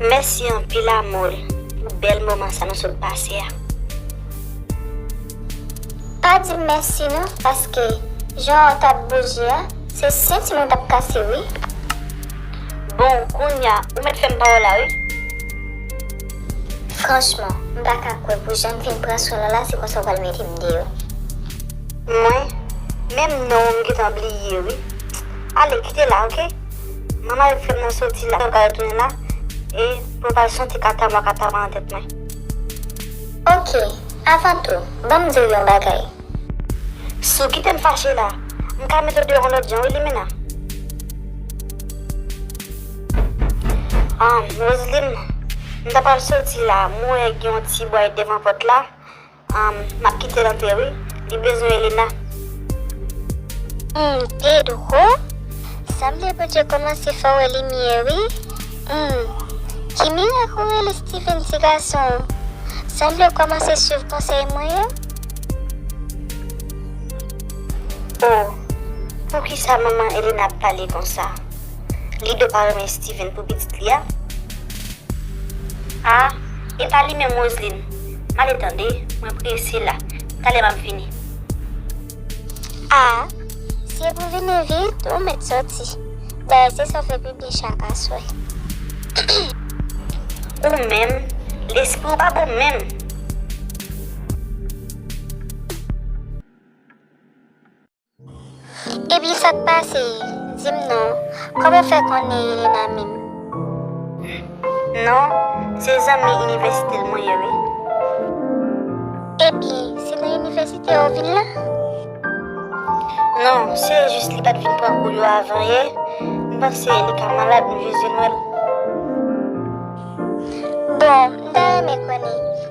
Mèsi anpil Amore pou bèl moman sa nou sot pase a. Pa dim mèsi non paske jan ou tap bouje a se senti mwen tap kase wi. Bon kounya ou mèt fèm pa wè w la wi. Franchman m pa ka kwè pou janm fin pran swen lala se konsa ou pral mete m deyò. Mwen menm non w m gentan bliye wi. Ale kite la ok. Manman yo te fè mwen soti la pou al tounen la e pou al soti kata mwa kata mwa nan tèt mwen. Ok, avan tou, ban m di w yon bagay. Si w kite m fache la, m ka mete w deyò yon lòt jan wi Limena. Humm, Roseline, m ta pral soti la, m wè gen yon ti bway devan pòt la. Map kitel antre wi li bezwen elena. Humm Pedro sanble Bondye komanse fè w wè limyè wi humm ki mirak ou rele Steven ti gason sanble w komanse swiv konsèy mwen yo. Oh poukisa manman Elena ap pale konsa Lido pa renmen Steven pou pitit li a? Ah epa li menm Roseline. Male tande, mwen prese la. Talè map vini. A, si e pou vini vit, ou mèt soti. Dayè se sa w fè pipi chak aswè. Ou menm, lespri w pa bon menm. Epi sak pase dim non. Koman ou fè konnen Elena minm. Hum non se zanmi inivèsite l mwen ye wi. Epi se nan inivèsite ou vin la. Non se jis li pat vin pran kou yo avan yè m panse li ka malad m jis vin wèl. Bon m ta renmen konnen.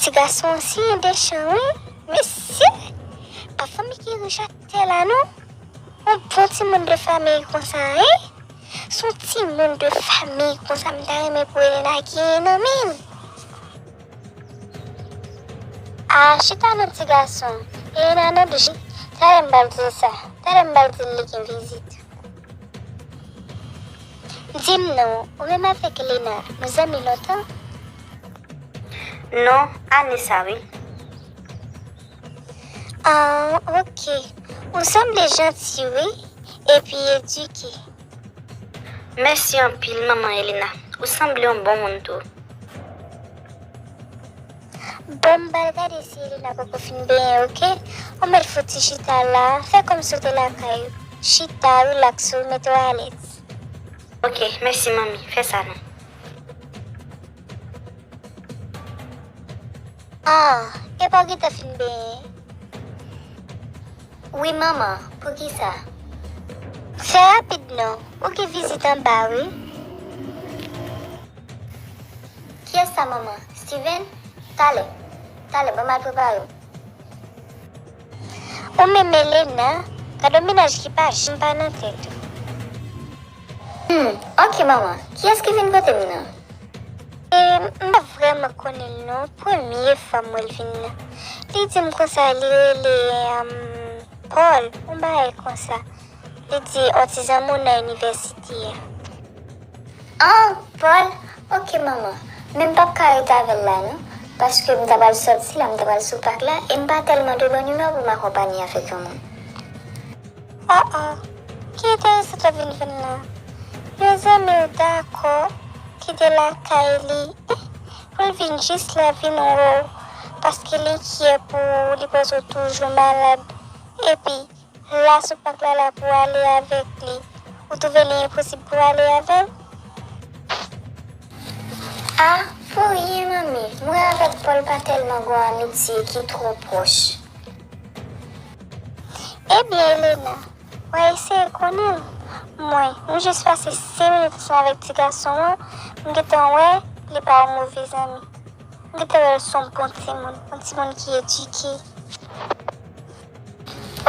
Ti gason an si endechan wi mesye pa fanmi ki rich ak tè la non yon bon timoun de famiy konsa hein si yon timoun de famiy konsa m ta renmen pou Elena genyen nan menl. Aah chita nan ti gason Elena nan bgy tale m bal dil sa tale m bal dil li gen vizit. Dim non, ou menm avèk Lena nou zanmi lontan? Non, ane sa wi. Aww ok, ou sanble janti wi, epi edike. Mèsi anpil manman Elena, ou sanble yon bon moun tou. Banm bal gade si Elena poko fin benyen ok ou mèt fouti chita la fè kòmsi ou te lakay ou chita relax ou mete w alèz. Ok mèsi manmi fè sa non. Ah epa ou gentan fin benyen. Wi manman poukisa. Fè rapid non ou gen vizit anba wi. Kiyès sa manman? Steven? Talè. Talè, banm al prepare w. Ou menm Elena, gadon mennaj ki pa janm pa nan tèt ou. Hum, ok manman, kiyès ki vin pote m nan? E, m pa vrèman konnen l non, premye fwa m wè l vin nan. Li di m konsa li rele Paul, yon bagay konsa. Li di on ti zanmi w nan inivèsite a. An, Paul, ok manman, men m p ap ka ret avè l la non, paske m ta pral sòti la, m ta pral sou pak la e m pa tèlman de bòn imè pou m akonpanye avèk yon moun. O o, ki enteresant w ap vin jwenn la. Yon zanmi w dakò kite lakay li pou l vin jis la vin wè w paske li kyè pou ou, li panse w toujou malad epi. Moua sou pak la la pou ale avek li ou trouve li enposib pou ale avel? Ah pou rien manmi mwen avek Paul pa telman gon amitie ki tro proche. Ebyen Elena wa eseye konnenl mwen m jus pase 5 minit ansanm avek ti gason an m gentan wè li pa yon move zanmi m gentan wèl son bon timoun yon timoun ki edike.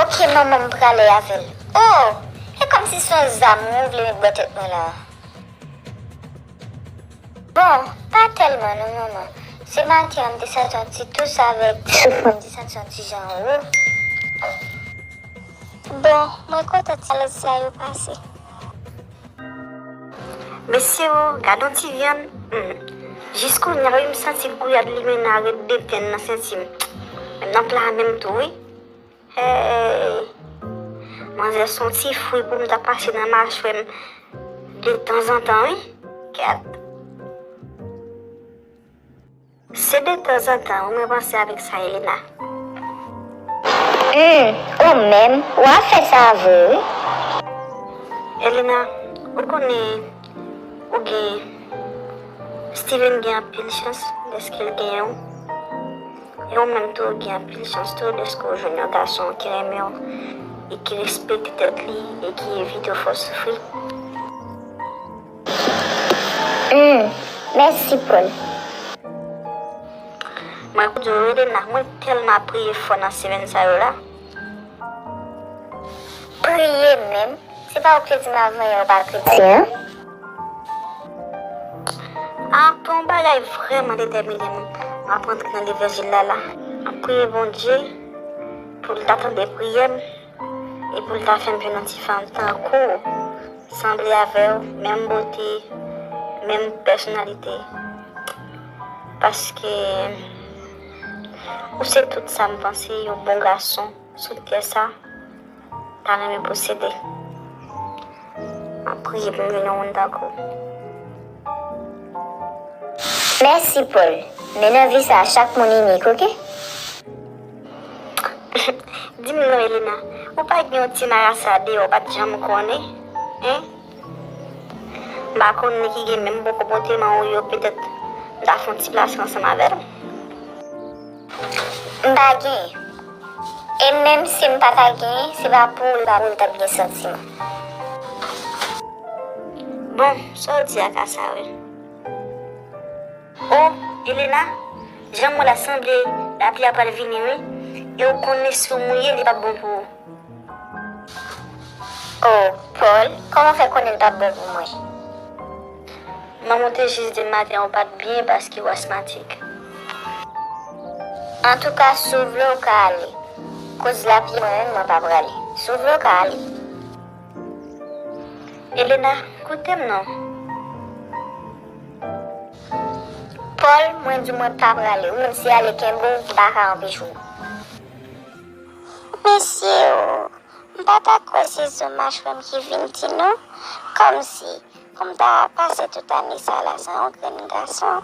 Ok manman m prale avel. Oh! E komsi se yon zam ou vle met bò tèt mwen la a. Bon, pa tèlman non manman. Se maten an m te santi yon ti tous avèk souf mwen m te santi yon ti jan wo. Bon, mwen kontan ti alèz sa yo pase. Mesye oo gadon ti vyann humm jis kounya wi m santi gouyad limena ret deten nan senti m menm nan pla a menm tou wi heyy manzè son ti fwi pou m ta pase nan machwè m de tanzantan wi gad. Se de tanzantan wi mwen panse avek sa ye la. Humm ou menm ou ap fè sa vre wi. Elena ou konnen ou gen Steven gen anpil chans deske l gen w e ou menm tou ou gen anpil chans tou deske w jwenn yon gason ki renmen w e ki respekte tèt li e ki evite w fè w soufri. Humm mèsi poul Mwen kou djol rele la mwen telman ap priye fò nan semèn sa yo la. Priye menm se pa ou ki te dim avan yè ou pa kretyen an. Aprè yon bagay vrèman detèmine m map antre nan levanjil la la. Map priye Bondye poul ta tande priyè m. E poul ta fèm jwenn yon ti fanm tankou w sanble avèw menm bote menm pèsonalite paske ou se tout sam panse yon bon gason sou tè sa ta renmen posede map priye poum jwenn yon moun tankou w. Mèsi Paul, men nan vi sa chak moun inik ok. Di m non Elena, ou pa gen yon ti marasa deyò ou pa t janm konnen? Hein? M pa konn li ki gen menm bon konpòteman ou yo petèt m ta fè yon ti plas ansanm avè l? M pa gen. E menm si m pa ta gen, se pa pou ou l t ap gen santiman. Bon, sa w di a ka sa vre. Oh Elena janm wè la sanble lapli a pral vini wi e ou konnen si ou mouye li pap bon pou ou. Oh Paul kòman fè konnen li pap bon pou mwen. Manman ou te jis dim maten ou pat byen paske ou asmatik. Antouka si ou vle ou ka ale koz lapli mwen menm mwen pa prale si ou vle ou ka ale. Elena, koute m non. Paul, mwen di mwen pa prale. Ou menm si ale kenbe w, m pa ka anpeche w. Mesi oo. M pa ta kwe se zo mach menm ki vin di non. Komsi pou m ta pase tout ane sa la san yon grenn gason.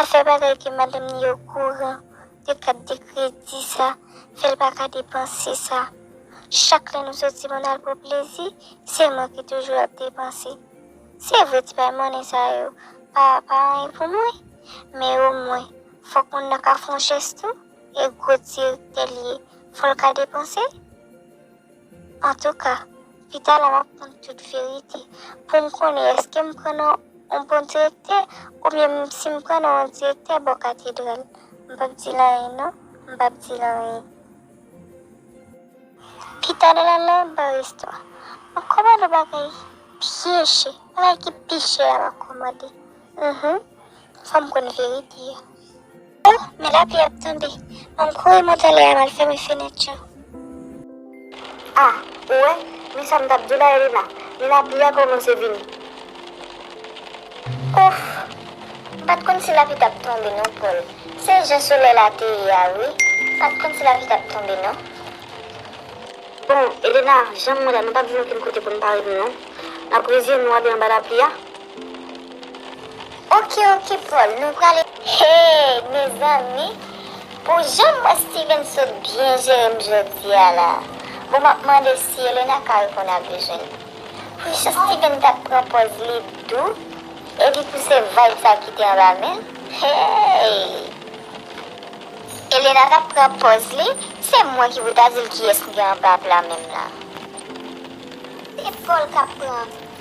Afè bagay ke madanm li okouran de kat de kredi sa fèl pa ka depanse sa. Chak lè nou soti pou nal pran plezi se mwen ki toujou ap depanse. Se vre ti bay monnen sa yo pa pa anyen pou mwen men o mwen fòk moun nan ka fon jès tou e gwo direktè li ye fòl ka depanse. Antouka, pita la m'ap konn tout verite pou m konnen èske m pran nan yon bon direktè oubyen si m pran nan yon direktè bò katedral. M pap di l anyen non, m pap di l anyen. Pita la nan yon bar restwa, m'ap kòmande yon bagay byen chè, bagay ki pi chè a m'ap kòmande. Uhmm, fò m konn verite a. Oh men lapli ap tonbe. Banm kouri monte lè a mal fèmen fenèt yo. Ah ou wè men sa m tap diw la Elena men lapli a komanse vini. Ouff m pat konn si lapli tap tonbe non Paul se jan solèy la te ye a wi m pat konn si lapli tap tonbe non. Bon Elena janm wè la nou pap jwenn okenn kote poun pare nou non nap reziyen nou abe anba lapli a. Ok ok Paul nou pral e. Hey mezanmi pou jan m wè Steven sot byen jere m jodi a la bon map mande si Elena ka reponn a bezwen li pou jan Steven tap pran pòz li dou epi pou se vibe sa ki te anba men l hey. Elena tap pran pòz li se mwen ki pou ta di l kiyès m gen anba pla menm la. Se Paul kap pran.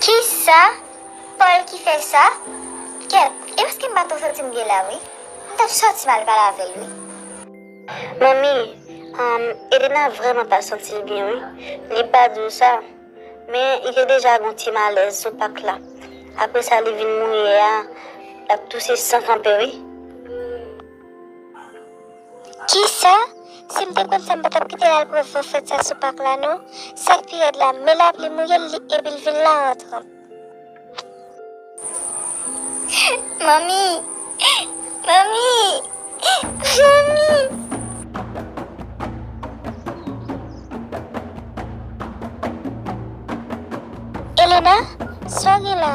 Kisa Paul ki fè sa? Kèt, e paske m pa twò santi m gen lè wi. M t ap sòti m al pale avè l wi. Manmi, Humm, Elena vrèman pa santi l byen wi. Li pa di w sa, men li te deja gen yon ti malèz sou pak la. Apre sa li vin mouye a, l ap touse san kanpe wi. Kisa? Sim te konn sa m patap kitel al pran van fèt sa sou pak la non, sak pi rèd la men lapli mouyel li epil vin la antran. Manmi! Manmi! Manmi! Elena, sa w gen la?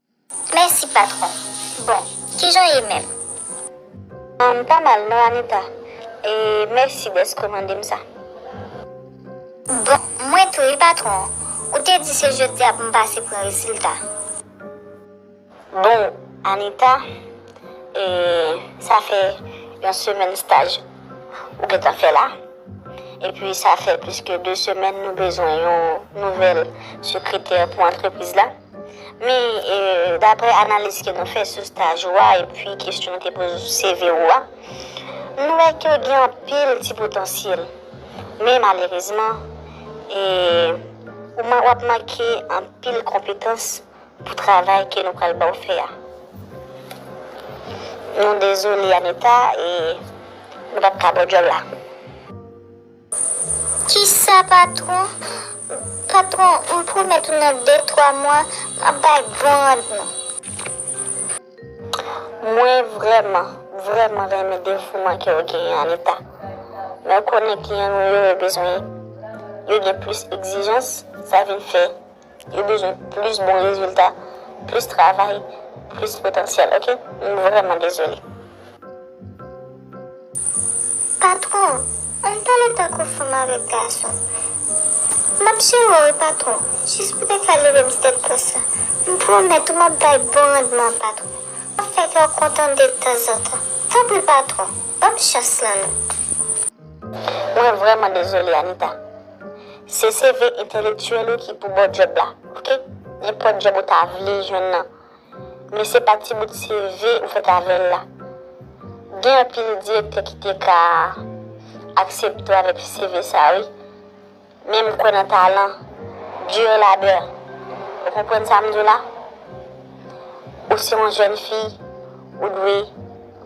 Mèsi patron. Bon, kijan w ye menm? M pa mal non Anita. E mèsi dèske w mande m sa. Bon, mwen tou wi patron. Ou te di se jodi a pou m pase pran rezilta. Bon Anita, e sa fè yon semèn staj ou gentan fè la. Epi sa fè plis ke 2 semèn nou bezwen yon nouvèl sekretè pou antrepriz la. Men, dapre analiz ke nou fè sou staj ou a epi kesyon nou te poze sou CV ou a, nou wè ke ou gen anpil ti potansyèl. Men malerezman, ou wap manke anpil konpetans pou travay ke nou pral ba ou fè a. Nou dezole Anita, nou pap ka ba ou djòb la. Kisa patron, patron m pwomèt ou nan 2 3 mwa map bay bon randman. Mwen vrèman, vrèman renmen devouman ke ou genyen Anita. Men ou konnen kliyan nou yo, yo bezwen, yo gen plis egzijans, sa vin fè Yo bezwen plis bon rezilta, plis travay, plis potansyèl ok. M vrèman dezole. Patron, ann pale tankou fanm avèk gason. Map jere w patron, jis pou te ka leve m step pòs la. M pwomèt ou map bay bon randman patron. Map fè kè w kontan detanzantan. Tanpri patron, banm chans lan non. Mwen vrèman dezole Anita. Se CV entèlektyèl ou ki pou ba w djòb la, ok? Nenpòt djòb ou ta vle jwenn nan. Men se pa ti bout CV ou fèt avè l la. Gen anpil direktè ki te ka aksepte w avèk CV sa a wi. Men m kwè nan talan, dur labeur. Ou konprann sa m di w la? Ou se yon jèn fi, ou dwe,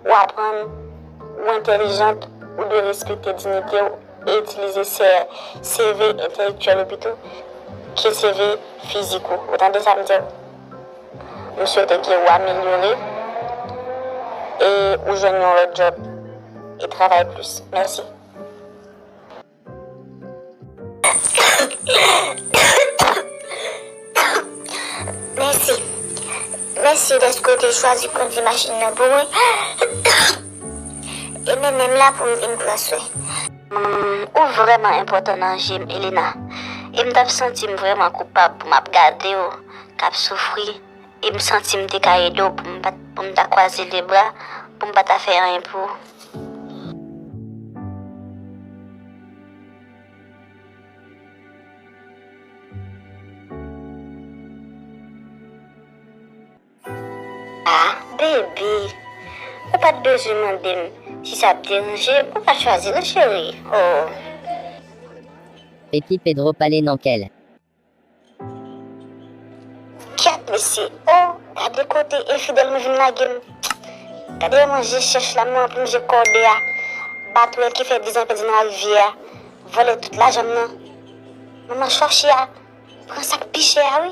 ou aprann, ou entèlijant, ou dwe respekte dinite w e itilize CV entèlektyèl ou pito ke CV fizik ou. Ou tande sa m di w? M swete ke ou amelyore e ou jwenn yon lòt djòb e travay plis. Mèsi. Mèsi. Mèsi dèske ou te chwazi kondi machin nan pou mwen. E men menm la pou m vin pran swen. Ou vrèman enpòtan nan je m, Elena. E m t ap santi m vrèman koupab pou m ap gade ou k ap soufri e m santi m te ka ede w pou m pat pou m ta kwaze de bra pou m pa ta fè anyen pou ou. A, Baby, ou pat bezwen mande m si sa ap deranje w, ou pa chwazi non cheri, oo. Epi Pedro pale nan kè l. Kèt mesye oh gade kote infidèl m vin lage m gade yon manje chèch la m nan pou m je kòde a batwèl ki fè 10 an pèdi nan larivyè a vòlè tout lajan m nan manman chòche a pran sak pi chè a wi.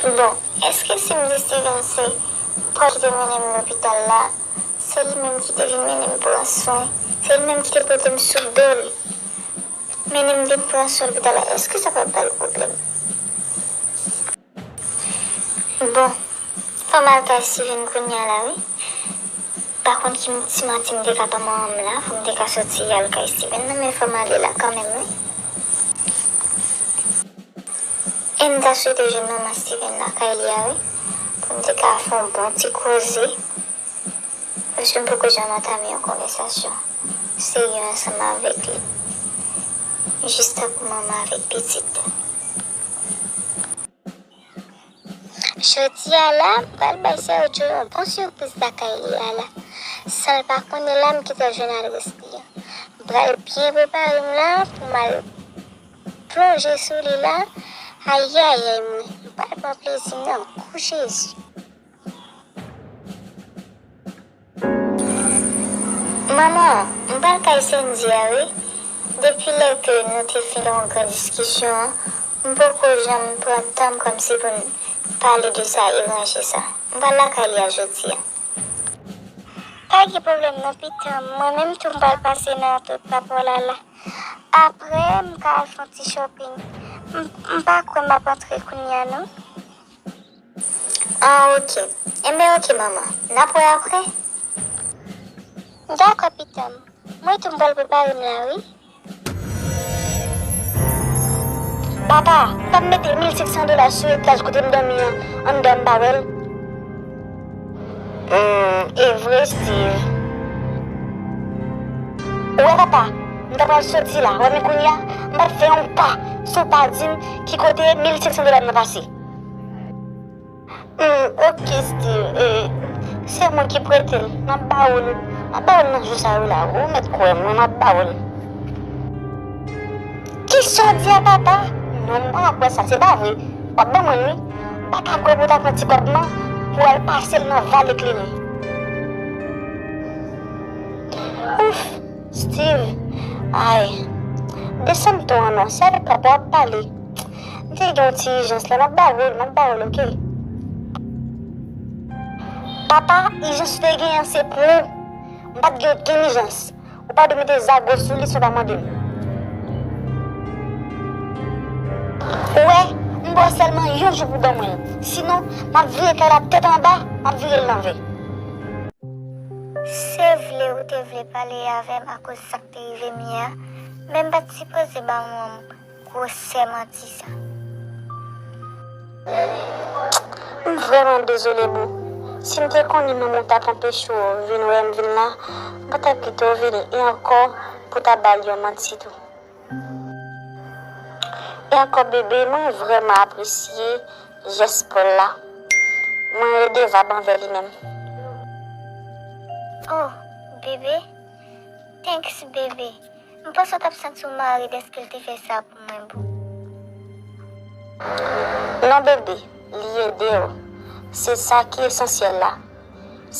Bon eske si m deside di m se Paul ki te mennen m lopital la, se li menm ki te vin mennen m pran swen, se li menm ki te pote m sou do l mennen m vin pran swen lopital la eske sa pap ba l pwoblèm? Bon fanm alkay Steven kounya la wi pa konn ki ti manti m te ka ban manman m la pou m te ka soti al kay Steven nan men fòm ale la kanmenm wi e m ta swete jwenn manman Steven lakay li a wi pou m te ka fè yon bon ti koze. Mesye m poko janm antame yon konvèsasyon serye ansanm avèk li. M jis tankou manman avèk pitit. Jodi a la, m pral bay Sergio yon bon sipriz lakay li a la. San l pa konn e la m ki te jwenn adrès li an. M pral byen prepare m la pou m al plonje sou li la. Ayayay mwen, m pa pran plezi nan. Gou Jezi! Manman, m pral kay Sendy a wi. Depi lè ke nou te fin yon gran diskisyon an, m poko janm pran tan m kòmsi pou n pale de sa e ranje sa. M pral lakay li a jodi a. Pa gen pwoblèm non pitanm, mwen menm tou m pral pase nan tout rapò Lala. Aprè m ka al fon ti shopping. M pa kwè m ap antre kounya non. Ah ok enben ok manman nap wè aprè. Dakò pitanm mwen tou m pral prepare m la wi. Papa pam mete mil senk san dola sou etaj kote m dòmi an anndan m pa wè l. Humm evre Steve. Ou wè papa m ta pral soti la wè men kounya m pap fè yon pa si w pa di m ki kote mil senk san dola m nan pase. Eeh ok steeve eeh se mwen ki prete l map ba ou l map ba ou l nan jou sa wi la ou mèt kwè m wi map ba ou l. Kisa w di a papa non m pa kwè sa se pa vre wap ban mwen l wi m paka kwè pou w ta pran ti kòb nan pou w al pase l nan vale kleren. Ouff steeve ayy desann ton an non se avèk papa w ap pale. M te gen yon ti ijans la, m ap ba ou l, m ap ba ou l ok. Papa, ijans ou te gen an se pou ou. M pa t gen okenn ijans. Ou pa dwe mete zago sou li si w pa mande m. Ou wè, m ba w sèlman yon jou pou w ban mwen l. Sinon, m ap vire kay la tèt anba, m ap vire l lanvè. Se vre ou te vle pale avè m akoz sa k te rive m yè a, men m pa t sipoze ba ou yon mo. Gwosè manti sa. M vrèman dezole boo. Si m te konnen manman w tap anpeche w vin wè m vin la, m pa ta kite w vini e ankò pou ta ba l yon manti tou. E ankò bebe mwen vrèman apresye jès Paul la. Mwen redevab anvè li menm. Oh bebe thanks bebe. M panse w tap santi w mare deske l te fè sa pou mwen boo. Non bébé, li ede w, se sa ki esansyèl la.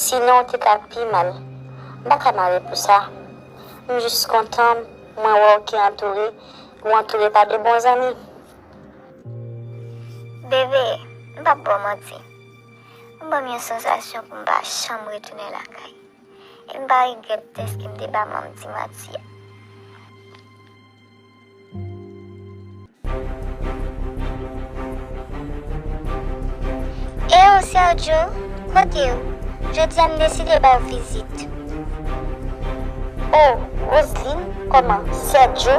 Sinon w te ka pi mal. M pa ka mare pou sa. M jis kontan mwen wè w ki antoure, ou antoure pa de bon zanmi. Bébé, m pap ba w manti. Ou banm yon sansasyon pou m pa janm retounen lakay. E m pa regrèt dèske m te ba manm ti manti a. Eyo Sergio, kote ou? Jodi a m deside ba w vizit. O, Roseline, kòman, Sergio?